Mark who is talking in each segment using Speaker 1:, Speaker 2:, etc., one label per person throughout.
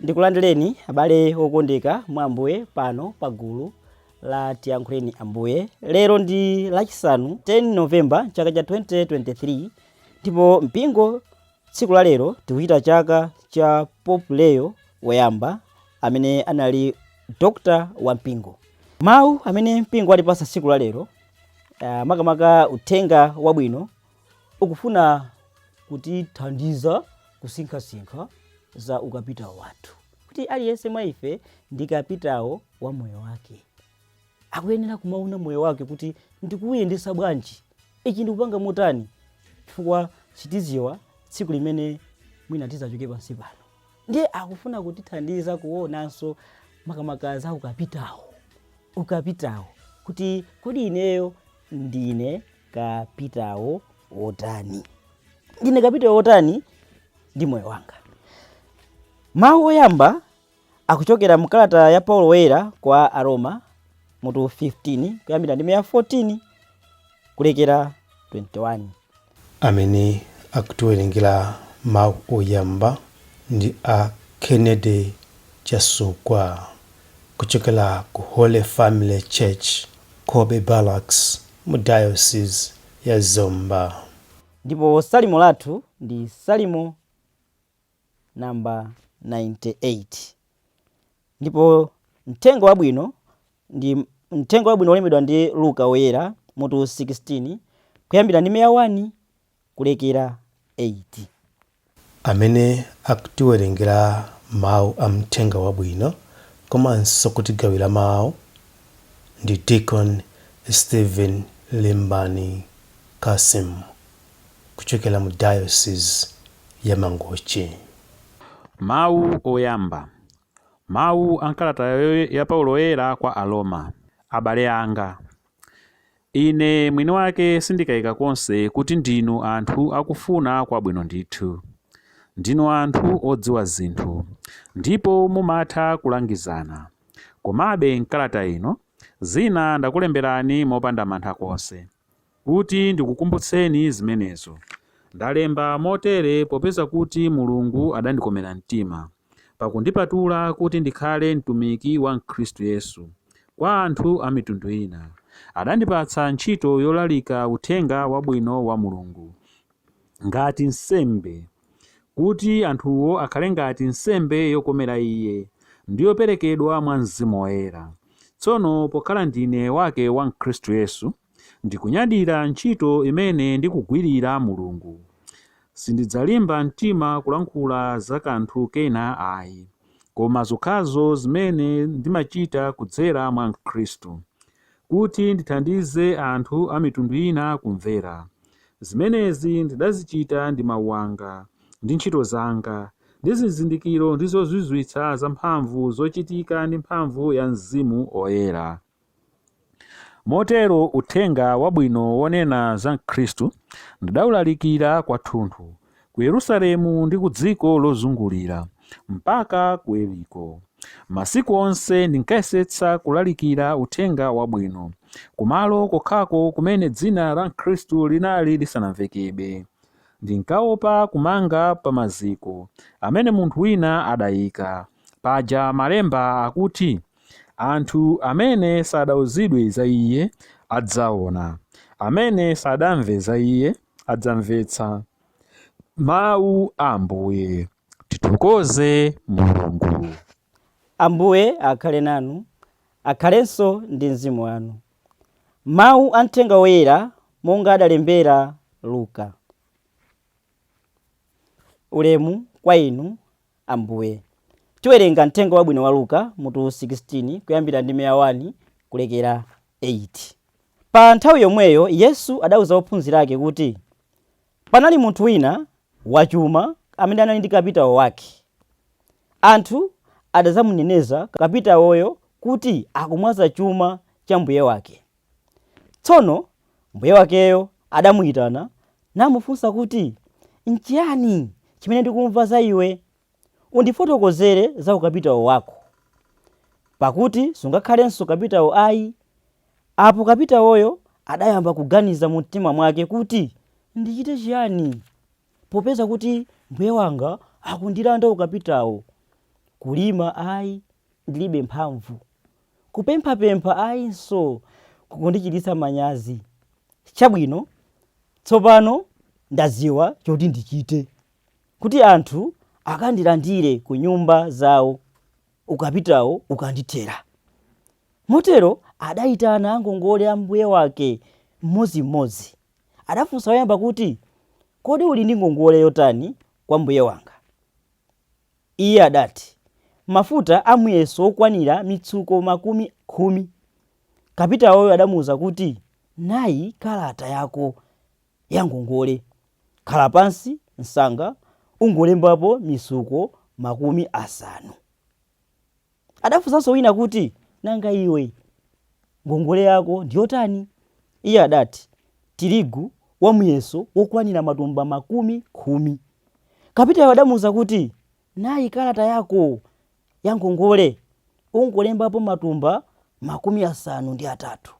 Speaker 1: Ndikulandireni abale okondeka mwa Ambuye pano pa gulu la Tiyankhuleni Ambuye. Lero ndi Lachisanu 10 November chaka cha 2023 ndipo mpingo tsiku la lero tikuchita chaka cha Pope Leo woyamba amene anali dokota wa mpingo. Mawu amene mpingo watipasa tsiku la lero uh, makamaka uthenga wabwino Ukufuna kutithandiza kusinkhasinkha za ukapitawo wathu, kuti aliyense mwa ife ndi kapitawo wa moyo wake. Akuyenera kumaona moyo wake kuti ndikuuyendesa bwanji, ichi ndikupanga motani, chifukwa sitiziwa tsiku limene mwina tizachoke pansi pano. Ndiye akufuna kutithandiza kuonanso makamaka za ukapitawo, ukapitawo kuti kodi ineyo ndine kapitawo wotani? Ndine kapitawo wotani ndi moyo wanga? Mawu oyamba akuchokera mu kalata ya Paulo Woyera kwa Aroma mutu 15 kuyambira ndime ya 14 kulekera 21. Amene
Speaker 2: akutiwerengera mawu oyamba ndi a Kennedy Chasukwa. kuchokera ku Holy Family Church, Cobbe Barracks mu Diocese ya Zomba. Ndipo
Speaker 1: Salimo lathu ndi Salimo number 98. Ndipo Mthenga Wabwino ndi Mthenga Wabwino wolembedwa ndi Luka Woyera, mutu 16, kuyambira ndime ya 1 kulekera
Speaker 2: 8. amene akutiwerengera mau a Mthenga Wabwino komanso kutigawira mau ndi Deacon Steven Limbani Cassim kuchokera mu Diocese ya
Speaker 3: Mangochi. Mau oyamba. Mau a m'kalata ya Paulo Woyera kwa Aroma. Abale anga. Ine mwini wake sindikaika konse kuti ndinu anthu akufuna kwabwino ndithu. Ndinu anthu odziwa zinthu, ndipo mumatha kulangizana. Komabe m'kalata ino, zina ndakulemberani mopanda mantha konse, kuti ndikukumbutseni zimenezo. Ndalemba motere popeza kuti Mulungu adandikomera mtima. pakundipatula kuti ndikhale mtumiki wa Khristu Yesu kwa anthu a mitundu ina. Adandipatsa ntchito yolalika Uthenga Wabwino wa Mulungu ngati wansembe, kuti anthuwo akhale ngati nsembe yokomera Iye ndi yoperekedwa mwa Mzimu Woyera. Tsono pokhala ndine wake wa Khristu Yesu, Ndikunyadira ntchito imene ndikugwirira Mulungu. Sindidzalimba mtima kulankhula za kanthu kena ayi, koma zokhazo zimene ndimachita kudzera mwa Khristu, kuti ndithandize anthu a mitundu ina kumvera. Zimenezi ndidazichita ndi mau anga, ndi ntchito zanga, ndi zizindikiro ndi zozizwitsa zamphamvu zochitika ndi mphamvu ya Mzimu Oyera. Motero uthenga wabwino wonena za Khristu ndidaulalikira kwathunthu, ku Yerusalemu ndi ku dziko lozungulira, mpaka ku Iliriko. Masiku onse ndinkayesetsa kulalikira uthenga wabwino kumalo kokhako kumene dzina la Khristu linali lisanamvekebe. Ndinkaopa kumanga pa maziko amene munthu wina adaika. Paja Malemba akuti. Anthu amene sadauzidwe za Iye, adzaona, amene sadamve za Iye, adzamvetsa. Mawu a Ambuye. Tithokoze Mulungu. Ambuye
Speaker 1: akhale nanu. Akhalenso ndi mzimu wanu. Mawu a Mthenga Woyera monga adalembera Luka. Ulemu kwa Inu, Ambuye. Tiwerenga Mthenga Wabwino wa Luka, mutu 16, kuyambira ndime ya 1 kulekera 8. Pa nthawi yomweyo Yesu adauza ophunzira ake kuti, Panali munthu wina wachuma amene anali ndi kapitawo wake. Anthu adadzamuneneza kapitawoyo kuti akumwaza chuma cha mbuye wake. Tsono mbuye wakeyo adamuyitana namufunsa kuti, Nchiyani chimene ndikumva za iwe? Undifotokozere za ukapitawo wako. Pakuti sungakhalenso kapitawo ayi. Apo kapitawoyo adayamba kuganiza mu mtima mwake kuti, Ndichite chiyani? Popeza kuti mbuye wanga akundilanda ukapitawo. Kulima ayi, ndilibe mphamvu. Kupemphapempha ayinso kukundichititsa manyazi. Chabwino, tsopano ndadziwa choti ndichite kuti anthu akandilandire ku nyumba zawo ukapitawo ukandithera. Motero adayitana angongole a mbuye wake mmodzimmodzi. Adafunsa woyamba kuti, Kodi uli ndi ngongole yotani kwa mbuye wanga? Iye adati mafuta a muyeso okwanira mitsuko makumi khumi. Kapitawoyo adamuuza kuti, Nayi kalata yako ya ngongole. Khala pansi msanga ungolembapo mitsuko makumi asanu. Adafunsanso wina kuti, Nanga iwe, ngongole yako ndi yotani? Iye adati, Tirigu wa muyeso wokwanira matumba makumi khumi. Kapitayo adamuuza kuti, Nayi kalata yako ya ngongole, ungolembapo matumba makumi asanu ndi atatu.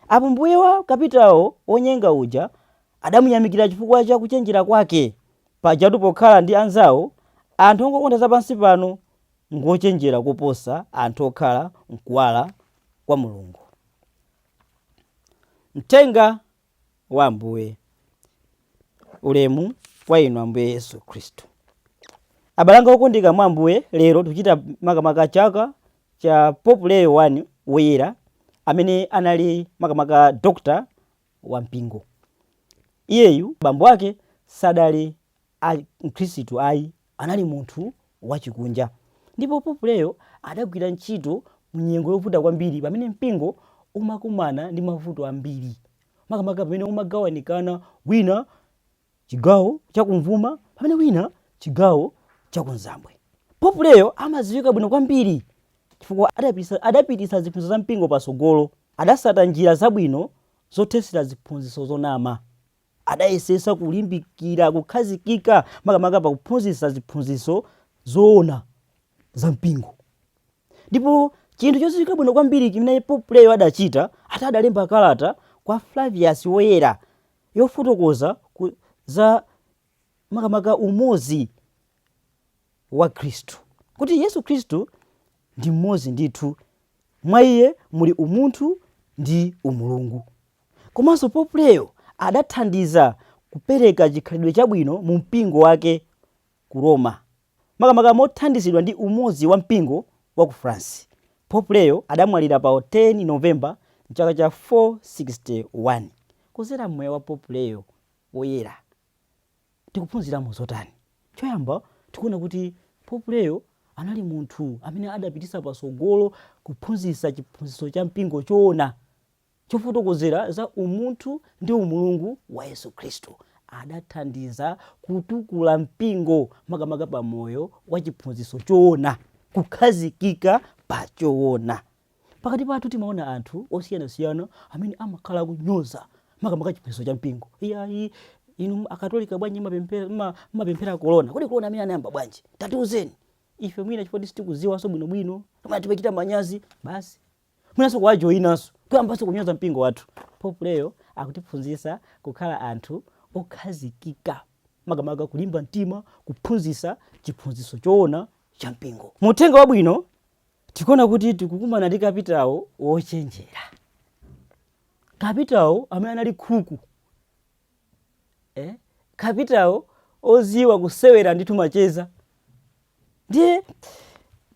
Speaker 1: Apo mbuye wa kapitayo wonyenga uja adamuyamikira chifukwa cha kuchenjera kwake. Pajatu pokhala ndi anzao, anthu ongokonda zapansipano ngwochenjera koposa anthu okhala m'kuwala kwa Mulungu. Mthenga wa Ambuye. Ulemu kwa Inu, Ambuye Yesu Khristu. Abale anga okondeka mwa Ambuye, lero tikuchita makamaka chaka cha Pope Leo 1 Woyera, amene anali makamaka Dr. wa Mpingo. Iyeyu bambo ake sadali mkhristu ayi, Anali munthu wachikunja, ndipo Pope Leo adagwira ntchito mu nyengo yovuta kwambiri pamene mpingo umakumana ndi mavuto ambiri, makamaka pamene umagawanikana wina chigawo chakumvuma pamene wina chigawo chakunzambwe. Pope Leo amadziwika bwino kwambiri chifukwa adapititsa ziphunzitso za mpingo patsogolo. Adatsata njira zabwino zothetsera ziphunzitso zonama. Adayesetsa kulimbikira kukhazikika makamaka pa kuphunzitsa ziphunzitso zoona za mpingo. Ndipo chinthu chodziwika bwino kwambiri chimene Pope Leo adachita, adalemba kalata kwa Flavius Woyera yofotokoza za makamaka umodzi wa Khristu, kuti Yesu Khristu ndi mmodzi ndithu, mwa Iye muli umunthu ndi umulungu. Komanso Pope Leo adathandiza kupereka chikhalidwe chabwino mu mpingo wake ku Roma. Makamaka mothandizidwa ndi umodzi wa mpingo wa ku France, Pope Leo adamwalira pa 10 November m'chaka cha 461. Kudzera m'moyo wa Pope Leo Woyera, tikuphunziramo zotani? Choyamba, tikuona kuti Pope Leo anali munthu amene adapititsa patsogolo kuphunzitsa chiphunzitso cha mpingo choona. chofotokozera za umunthu ndi umulungu wa Yesu Khristu, adathandiza kutukula mpingo makamaka pa moyo wa chiphunzitso choona, kukhazikika pa choona. Pakati pathu timaona anthu osiyanasiyana amene amakhala akunyoza makamaka chiphunzitso cha mpingo. Iyayi, inu akatolika bwanji mmapemphera kolona? Kodi kolona amene anayamba bwanji? Tatiuzeni. Ife mwina chifukwa sitikudziwanso bwinobwino, kapena timachita manyazi basi. mwinanso kuwajoyinanso kuyambanso kunyoza mpingo wathu. Pope Leo akutiphunzitsa kukhala anthu okhazikika, makamaka kulimba mtima kuphunzitsa chiphunzitso choona cha mpingo. Mu Uthenga Wabwino tikuona kuti tikukumana ndi kapitawo wochenjera, kapitawo amene anali khuku eh? kapitawo oziwa kusewera ndithu macheza ndiye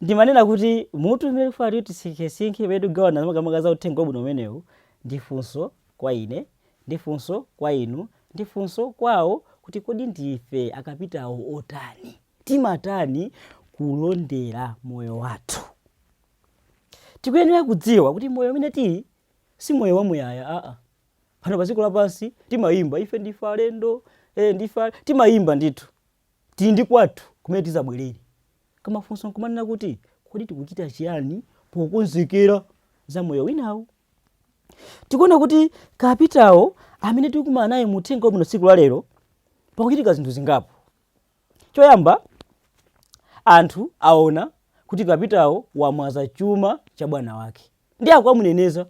Speaker 1: ndimanena kuti mutu umene nfuna kuti tisinkhesinkhe umene tikugawana makamaka za uthenga wabwino umenewu ndi funso kwa ine ndi funso kwa inu ndi funso kwawo kuti kodi ndife akapitawo otani timatani kulondera moyo wathu tikuyenera kudziwa kuti moyo umene tili si moyo wamuyaya aa pano pa dziko lapansi timayimba ife ndife alendo eh, ndife ale- timayimba ndithu tili ndi kwathu kumene tizabwerere koma funso nkumanena kuti kodi tikuchita chiyani pokonzekera za moyo winawo tikuona kuti kapitawo amene tikumana naye mu uthenga wabwino tsiku la lero pakuchitika zinthu zingapo choyamba anthu aona kuti kapitawo wamwaza chuma cha bwana wake ndiye akukamuneneza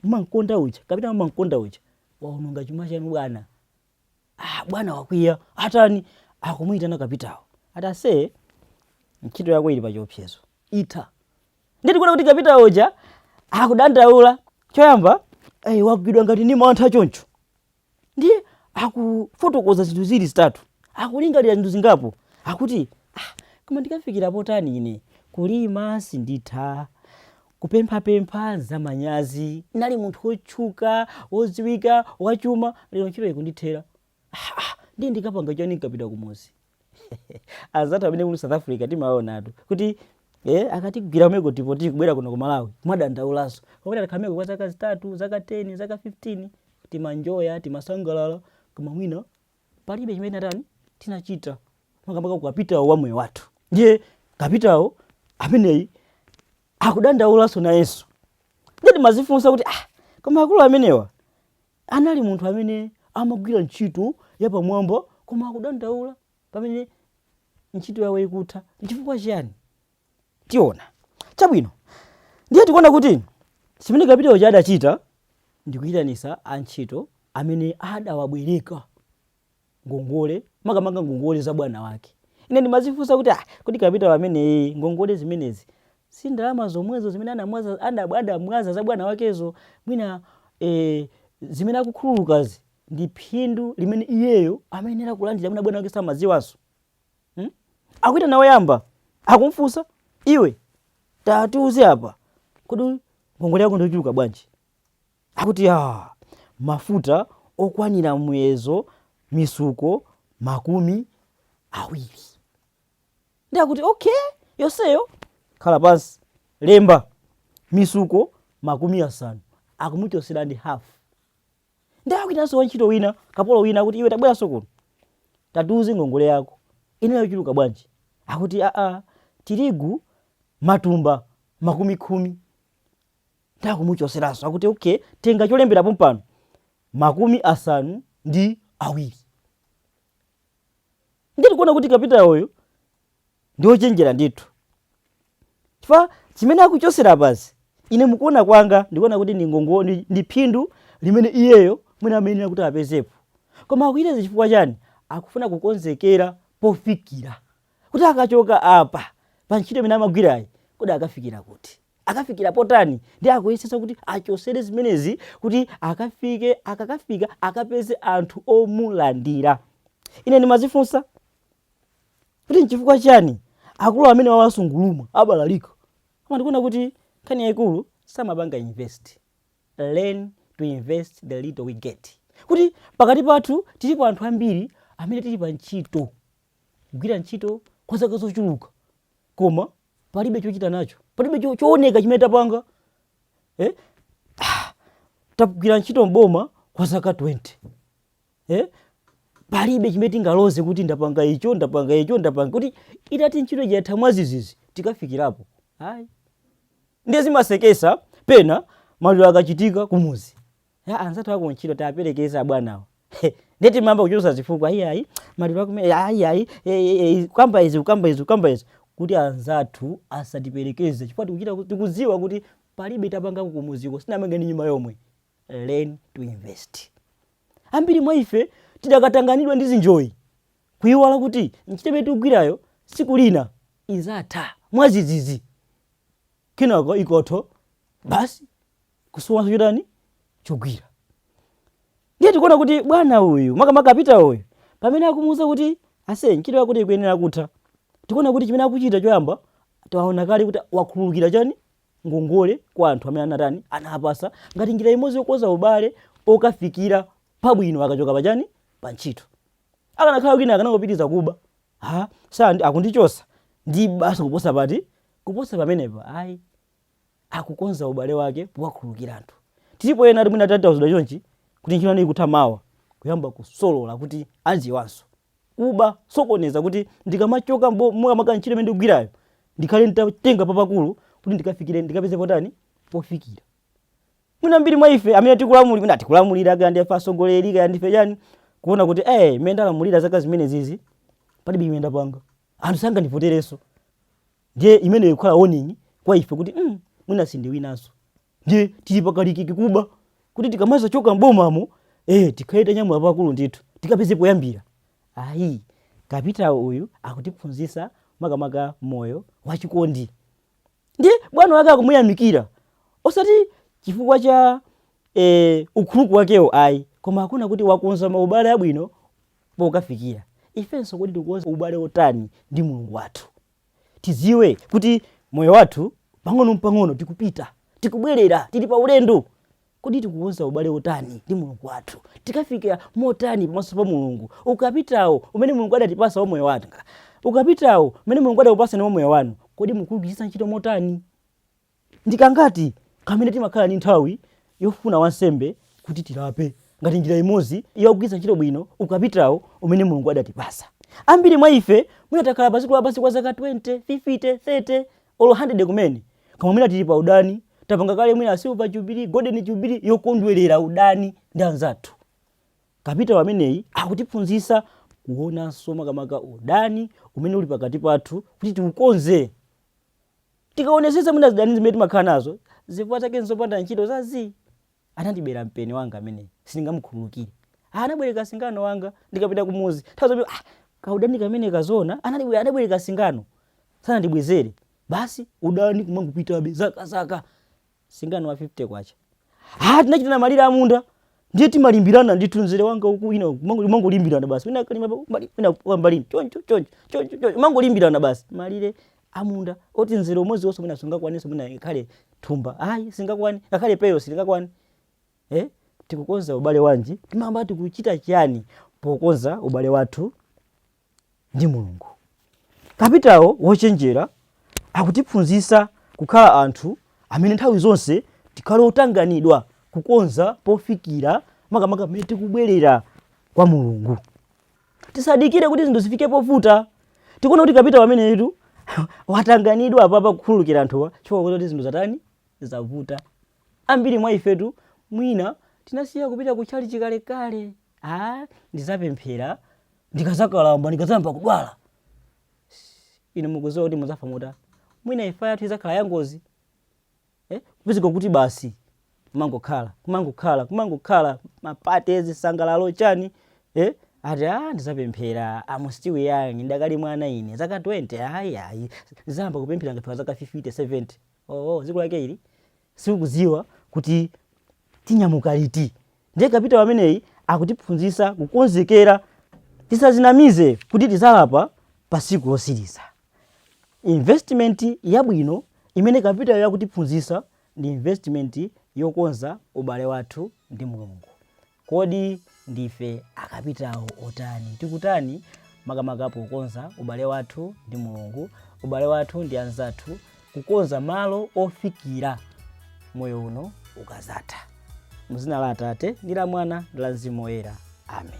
Speaker 1: mmamkonda uja kapitawo mmamkonda uja waononga chuma chanu bwana ah, bwana wakwiya atani akumuyitana kapitawo ati ase ntchito yako ili pachiopsezo itha ndiye tikuona kuti kapitawo uja akudandaula choyamba hey, wagwidwa ngati ni mantha choncho ndiye akufotokoza zinthu zili zitatu akulingalira zinthu zingapo akuti ah, koma ndikafikirapo tani ine kulima sinditha kupemphapempha zamanyazi nali munthu wotchuka wodziwika wachuma lero ntchito ikundithera ah, ah, ndiye ndikapanga chani nkapita kumuzi anzathu amene tili south africa timaonatu kuti e akatigwira kumeko tipo tikubwera kuno ku malawi timadandaulaso pakuti takhala kumeko kwa zaka zitatu zaka 10 zaka 15 timanjoya timasangalala koma mwina palibe chimene atani tinachita makamaka ukapitawo wa moyo wathu ndiye kapitawo ameneyi akudandaulaso nayenso ndiye timazifunsa kuti ah koma akulu amenewa Anali munthu amene amagwira ntchito yapamwamba koma akudandaula pamene ntchito yawo ikutha. N'chifukwa chiyani? Tiona. Chabwino. Ndiye tikuona kuti chimene kapitawo uja adachita ndi kuitanitsa antchito amene adawabwereka ngongole, makamaka ngongole za bwana wake. Ine ndimazifunsa kuti ah, kodi kapitawo ameneyu ngongole zimenezi si ndalama zomwezo zimene anamwaza adab- adamwaza za bwana wakezo mwina eh, zimene akukhululukazi ndi phindu limene iyeyo amayenera kulandira mwina bwana wake samadziwanso hmm? akuitana woyamba akumfunsa iwe tatiuze apa kodi ngongole yako ndiochuluka bwanji Akuti, Yaa, mafuta okwanira muyezo mitsuko makumi awiri. Ndiye akuti, Okay, yonseyo? Khala pansi, lemba. Mitsuko makumi asanu. Akumuchotsera ndi hafu. Ndiye akuitananso wantchito wina, kapolo wina, akuti, Iwe tabweranso kuno. Tatiuze ngongole yako. Inali yochuluka bwanji? Akuti, Aa, tirigu matumba makumi khumi. Ndiye akumuchoseranso akuti okay tenga cholembera pompano makumi asanu ndi atatu. Ndiye tikuona kuti kapitawoyo ndi ochenjera ndithu chifukwa chimene akuchosera apazi ine mukuona kwanga ndikuona kuti ndi ngongo ndi, ndi phindu limene iyeyo mwina amayenera kuti apezepo koma akuyitaya chifukwa chani akufuna kukonzekera pofikira kuti akachoka apa pa ntchito imene amagwirayi kodi akafikira kuti akafikira potani ndi akuyesetsa kuti achosere zimenezi kuti akafike akakafika akapeze anthu omulandira ine ndimazifunsa kuti nchifukwa chani akulu amenewa asungulumwa abalalika koma ndikuona kuti nkhani yayikulu samapanga invest learn to invest the little we get kuti pakati pathu tilipo anthu ambiri amene tili pa ntchito kugwira ntchito kwa zaka zochuluka koma palibe chochita nacho palibe cho- chooneka chimene tapanga eh? Ah, tagwira ntchito mboma kwa zaka 20 eh? palibe chimene tingaloze kuti ndapanga icho ndapanga icho ndapanga kuti itati ntchito ija itatha mwazizizi tikafikirapo ayi ndiye zimasekesa pena maliro akachitika kumuzi ya anzathu akuntchito tapelekeza abwanawo He, nde timayamba kuchulusa zifukwa ayi ayi maliro ake amene ayi ayi eh, eh, eh, kukamba izi kukamba izi kukamba izi kuti anzathu asatipelekeze chifukwa tikuchita ku- tikudziwa kuti palibe tapangako kumuziko sitinamange ndi nyumba yomwe learn to invest ambiri mwa ife tidakatanganidwa ndi zinjoyi kuyiwala kuti ntchito imene tikugwirayo tsiku lina izatha mwazizizi kenako ikathyo basi kusowanso chotani chogwira ndiye tikuona kuti bwana uyu makamaka kapitawo uyu pamene akumuuza kuti aise ntchito yakoyi ikuyenera kutha tikuona kuti chimene akuchita choyamba taona kale kuti wakhululukira chani ngongole kwa anthu amene anatani anawapatsa ngati njira imodzi yokonza ubale akafikire pabwino akachoka pachani pa ntchito akanakhala wina akanangopitiriza kuba ha sanji akundichosa ndi basi kuposa pati kuposa pamenepa ayi akukonza ubale wake powakhululukira anthu tilipo ena oti mwina tatawuzidwa chonchi kuti ntchito yanu ikutha mawa kuyamba kusolola kuti aziwanso kuba sokoneza kuti ndikamachoka mbomamu kapena ntchito imene ndikugwirayo ndikhale nditatenga papakulu kuti ndikafikire ndikapeze potani pofikira mwina ambiri mwa ife amene tikulamulira mwina tikulamulira kaya ndife atsogoleri kaya ndife chani kuona kuti eh mmene ndalamulira zaka zimenezizi palibe chimene ndapanga anthu sangandivoterenso ndiye imeneyo ikukhala warning kwa ife kuti mm, mwina sindiwinanso ndiye tili pakalikiki kuba kuti tikamazachoka mbomamo eh, tikhale tanyamula pakulu ndithu tikapeze poyambira ayi kapitawo uyu akutiphunzitsa makamaka mmoyo wachikondi ndiye bwana wake akumuyamikira osati chifukwa cha eh, ukuluku wakewo ayi koma akuona kuti wakonza maubale abwino pokafikira. Ifenso kodi tikukonza ubale wotani ndi Mulungu wathu? Tidziwe kuti moyo wathu pang'ono mpang'ono tikupita, tikubwerera, tili pa ulendo. Kodi tikukonza ubale wotani ndi Mulungu wathu? Tikafika motani pamaso pa Mulungu? Ukapitawo umene Mulungu adatipatsa wa moyo wanga, ukapitawo umene Mulungu adakupatsani wa moyo wanu, kodi mukuugwiritsa ntchito motani? Ndi kangati kamene timakhala ndi nthawi yofuna wansembe kuti tilape ngati njira imodzi yogwiritsa ntchito bwino ukapitawo umene Mulungu adatipatsa? Ambiri mwa ife mwina takhala pa dziko lapansi kwa zaka 20, 50, 30, olo 100 kumene, koma mwina tili pa udani, tapanga kale mwina silver jubilee, golden jubilee yokondwerera udani ndi anzathu. Kapitawo ameneyi akutiphunzitsa kuonanso makamaka udani umene uli pakati pathu kuti tiukonze. Tikaonetsetsa mwina zidani zimene timakhala nazo zifukwa zake nzopanda ntchito za zii. Anandibera mpeni wanga ameneyi, sindingamukhululukire. Ah, anabwereka singano wanga ndikupita kumuzi. Tazoona ah, kaudani kameneka zoona anali anabwereka singano. Sanandibwezere. Basi udani kumangopitabe zaka zaka. singano wa 50 kwacha ah tinachitana malire amunda ndiye timalimbirana ndithu mzere wanga uku wina uku, mango- mangolimbirana basi wina kalima pa- mbali- wina kwa mbaliyi choncho choncho choncho choncho mangolimbirana basi malire amunda oti mzere umodzi wonse mwina sungakwanenso mwina ngakhale thumba ayi singakwane ngakhale peyo silingakwane eh? tikukonza ubale wanji timakhala tikuchita chiyani pokonza ubale wathu ndi Mulungu. Kapitawo wochenjera akutiphunzitsa kukhala anthu amene nthawi zonse tikhale otanganidwa kukonza pofikira, makamaka mmene tikubwerera kwa Mulungu. Tisadikire kuti zinthu zifike povuta. Tikuona kuti kapitawo ameneyitu watanganidwa apapa kukhululukira anthuwa chifukwa akuona kuti zinthu zatani zavuta. Ambiri mwa ifetu mwina tinasiya kupita ku tchalitchi kalekale. Ah, ndidzapemphera ndikazakalamba ndikazayamba kudwala inu mukuziwa kuti muzafa mota mwina imfa yathu izakhala yangozi eh? kupezeka kuti basi kumangokhala kumangokhala kumangokhala mapate zisangalalo chani eh? ati a ndizapemphera am still young ndakali mwana ine zaka 20 ayi ayi ndizayamba kupemphera ngati pa zaka 50 70 oo dziko lake ili sitikuziwa kuti tinyamuka liti ndiye kapitawo ameneyu akutiphunzisa kukonzekera tisazinamize kuti tizalapa pa siku lotsiriza investment yabwino imene kapitawoyu akutiphunzisa ndi investment yokonza ubale wathu ndi mulungu Kodi ndife akapitawo otani? Tikutani makamaka pokonza ubale wathu ndi Mulungu, ubale wathu ndi anzathu, kukonza malo ofikira moyo uno ukazatha? Mu zina la Atate, ndi la Mwana, ndi la Mzimu Woyera. Amen.